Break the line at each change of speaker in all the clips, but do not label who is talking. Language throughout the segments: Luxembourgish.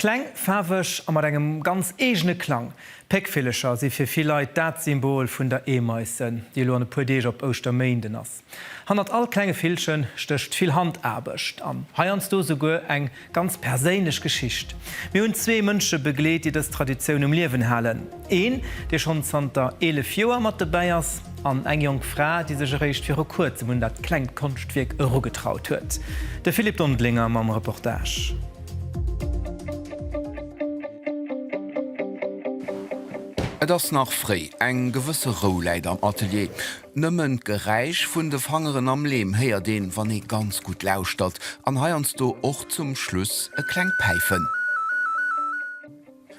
Kleng, faarweg a mat engem ganz eegene Klang. Péckvillecher si fir vill Leit dat Symbol vun der Eemaisse, déi elo an e puer Deeg op Ouschterméinden ass. Hannert all klenge Villche stécht vill Handaarbecht an heiansdo souguer eng ganz perséinlech Geschicht. Mir hunn zwee Mënsche begleet, déi dës Traditioun um Liewen halen, een, dee schonn zanter 11 Joer mat dobäi ass, an eng jonk Fra, déi sech eréischt viru Kuerzem un dat klengt Konschtwierk erugetraut huet. De Philippe Dondelinger mam Reportage.
Et ass nach fréi, eng gewësse Rou läit am Atelier. Nëmmen d'Geräisch vun de Fangeren am Leem héiert een, wann ee ganz gutt lauschtert, an heiansdo och zum Schluss e klengt Päifen.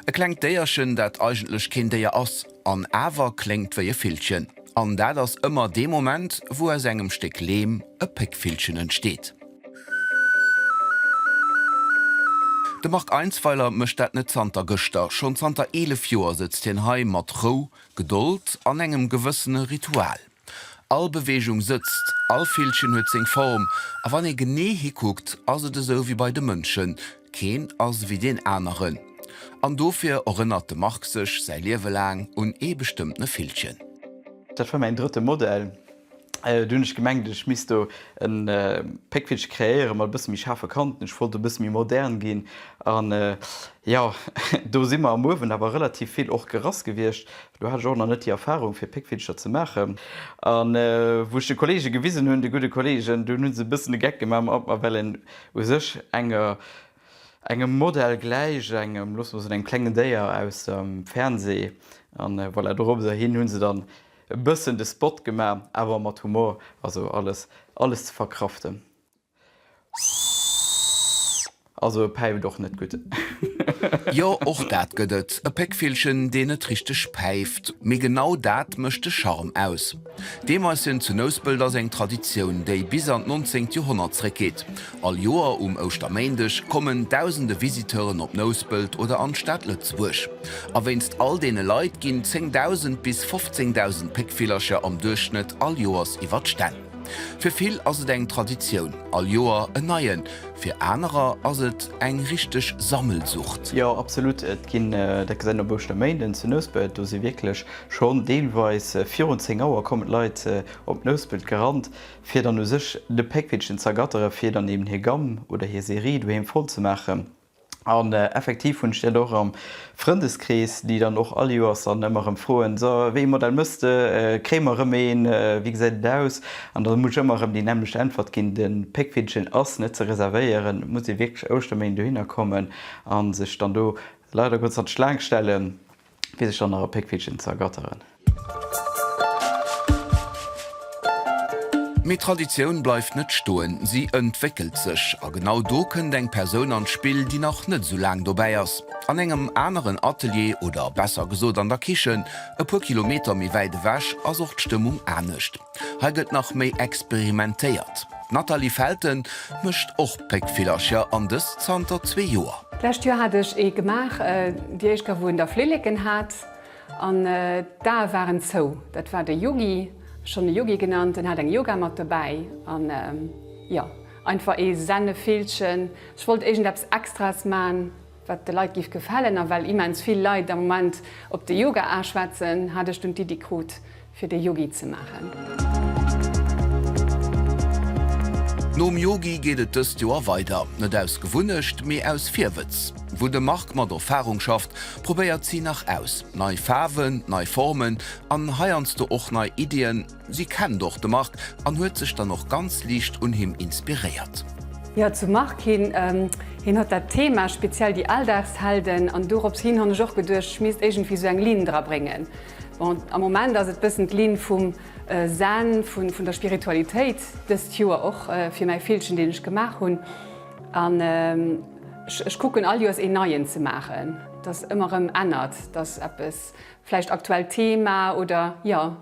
E klengt Déierchen, dat eigentlech keen Déier ass, an awer kléngt wéi e Villchen. An dat ass ëmmer dee Moment, wou aus engem Stéck Leem e Péckvillchen entsteet. De Marc Einsweiler mécht dat net zanter gëschter. Schonn zanter 11 Joer sëtzt hien hei, mat Rou, Gedold an engem gewëssene Ritual. All Beweegung sëtzt, all Villchen huet seng Form, a wann ee genee hikuckt, ass et esou wéi bei de Mënschen, keen ass wéi deen aneren. An dofir erënnert de Marc sech säi Liewe laang un ee bestëmmtene Villchen. Dat war
mäin drëtte Modell. Do hunn ech gemengt, ech misst do e Péckvillche kreéieren, mat e bësse méi schaarfe Kanten. Ech wollt e bësse méi modern ginn. An jo, do si mer am Uewen awer relativ vill och gerass gewiescht. Do hat ech och nach net déi Erfarung, fir Péckvillcher ze maachen. An wou ech de Kolleege gewisen hunn, de gudde Kolleegen, dunn hu se e bëssen de Geck gemaach mat mer, well een u sech enger, engem Modell gläicht, engem, loosse mer soen, engem klengen Déier aus dem Fernseh. An voilà, dorobber hin hu se dann E bëssen de Spot gema, awer mat Humor, also alles, alles ze verkraften. Also e päift och net gutt. Jo,
och dat gëtt et, e Péckvillchen, deen net richteg päift. Mee genau dat mécht de Charme aus. D'Eemaisien zu Nouspelt ass eng Traditioun, déi bis an d'nonzéngt Joerhonnert zréckgeet. All Joer um Ouschterméindeg kommen dausende Visiteuren op Nouspelt oder an d'Stad Lëtzebuerg. A wéinst all deene Leit ginn 10.000 bis 15.000 Péckvillercher am Duerchschnëtt all Joers iwwer d'Stänn. Fir vill ass et eng Traditioun, all Joer en neien, fir anerer ass et eng richteg Sammelsucht. Jo, absolut. Et
ginn, dat gesäit een op Ouschterméinden zu Nouspelt, do si wierklech schonn deelweis virun 10 Auer kommen d'Leit op Nouspelt gerannt, Fir dann u sech de Péckvillchen z'ergatteren, fir dann eben hir Gamm oder hir Serie doheem voll ze maachen. An effektiv hunn ech dat och am Frëndeskrees, déi dann och all Joers dann ëmmer erëm froen, So, wéi ee Modell mëss de? Kréie mer erëm een? Wéi gesäit et aus? An da muss ech ëmmer erëm déi nämmlecht Äntwert ginn, De Péckvillchen ass net ze reservéieren, et muss ee wierklech Ouschterméind dohinner kommen a sech dann do leider Gottes an d'Schlaang stellen. fir sech dann nach e Péckvillchen ze ergatteren.
Mee Traditioun bleift net stoen, si entwéckelt sech. A genau do kënnt eng Persoun an d'Spill, déi nach net esou laang dobäi ass. An engem aneren Atelier, oder besser gesot an der Kichen, e puer Kilometer méi wäit ewech, ass och d'Stëmmung anescht. Hei gëtt nach méi experimentéiert. D'Nathalie Felten mécht och Péckvillercher, an dëst zanter zwee Joer. D'lescht Joer hat ech ee
gemaach. Déi éischt Gaff, wou en da Flilleken hat an d'Ae waren zou, dat war de Yogi, schonn e Yogi genannt. En hat eng Yogamatt dobäi an, jo, einfach ee Sennevillchen. Ech wollt iergendeppes Extraes man. wat de Leit giff gefällen, a well immens vill Leit am Moment op de Yoga aaschwätzen, hat ech dunn d'Iddi krut fir de Yogi ze maachen.
Nom Yogi geet et dëst Joer weider, net aus Gewunnecht, mee aus Virwëtz. Wou de Marc mat Erfarung schafft, probéiert si nach aus, nei Faarwen, nei Formen an heiansdo och nei Iddien, Si kennt och de Marc an huet sech dann och ganz liicht un him inspiréiert. Jo, zum Marc
hin, hien hat dat Thema, speziell déi Alldagshelden, an dorops hin han ech och geduecht, ech misst iergendwéi esou eng Linn dra bréngen. Bon, am Moment ass et bëssen d'Linn vum Zen, vun der Spiritualitéit, dëst Joer och fir mäi Villchen, deen ech gemaach hunn. An ech kucken all Joers een neien ze maachen, dass ëmmer erëm ännert, dass eppes, vläicht aktuellt Thema oder jo.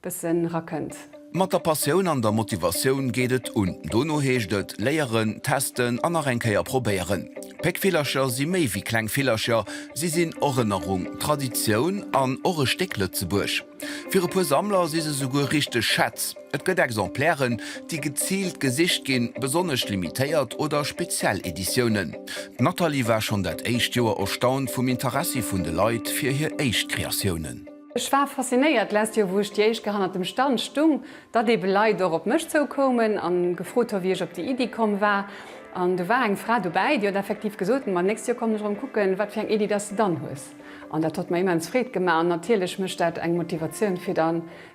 Bëssen rakënnt. Mat der Passioun
an der Motivatioun geet et un. Dono heescht et léieren, testen an nach eng Kéier probéieren. Péckvillercher si méi wéi kleng Villercher, si sinn Erënnerung, Traditioun an och e Stéck Lëtzebuerg. Fir e puer Sammler si se souguer richteg Schätz. Et gëtt Exemplairen, déi geziilt gesicht ginn, besonnesch limitéiert oder speziell Editiounen. D'Nathalie war schonn dat éischt Joer erstaunt vum Interessi vun de Leit fir hir éischt Kreatiounen. Ech war
faszinéiert d'lescht Joer, wou ech déi éischt Kéier hannert dem Stand stung, datt eebe Leit och op mech zoukoumen a gefrot hu wéi ech op déi Iddi komm war. An do war eng Fra dobäi, déi huet effektiv gesot, ma d'nächst Joer kommen ech erëm kucken, wat fir eng Iddi datt s de dann hues. An dat huet mer immens Freed gemaach an natierlech mécht dat eng Motivatioun, fir da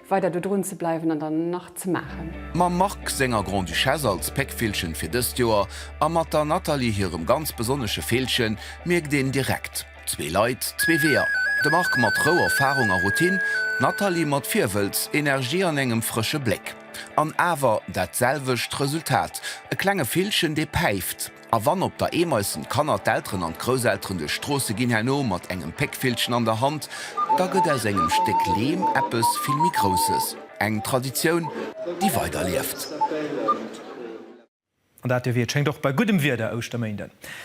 weider do drun ze bleiwen an dann nach ze maachen. Mam Marc senger
Grand-Duchesse als Péckvillchen fir dëst Joer a mat der Nathalie hirem ganz besonnesche Villchen mierkt een direkt, Zwee Leit, zwee Weeër, de Marc mat Rou, Erfarung a Routine, d'Nathalie mat Virwëlz, Energie an engem frësche Bléck. An awer dat selwecht Resultat, e klenge Villchen, dee päift. A wann op der Eemaissen d'Kanner, d'Elteren an d'Grousselteren duerch d'Stroosse ginn, herno mat engem Péckvillchen an der Hand, da gëtt aus engem Stéck Leem eppes vill méi Grousses, eng Traditioun, déi weiderlieft.
An dat dierf
ee, et
schéngt, och bei guddem Wieder Ouschterméinden.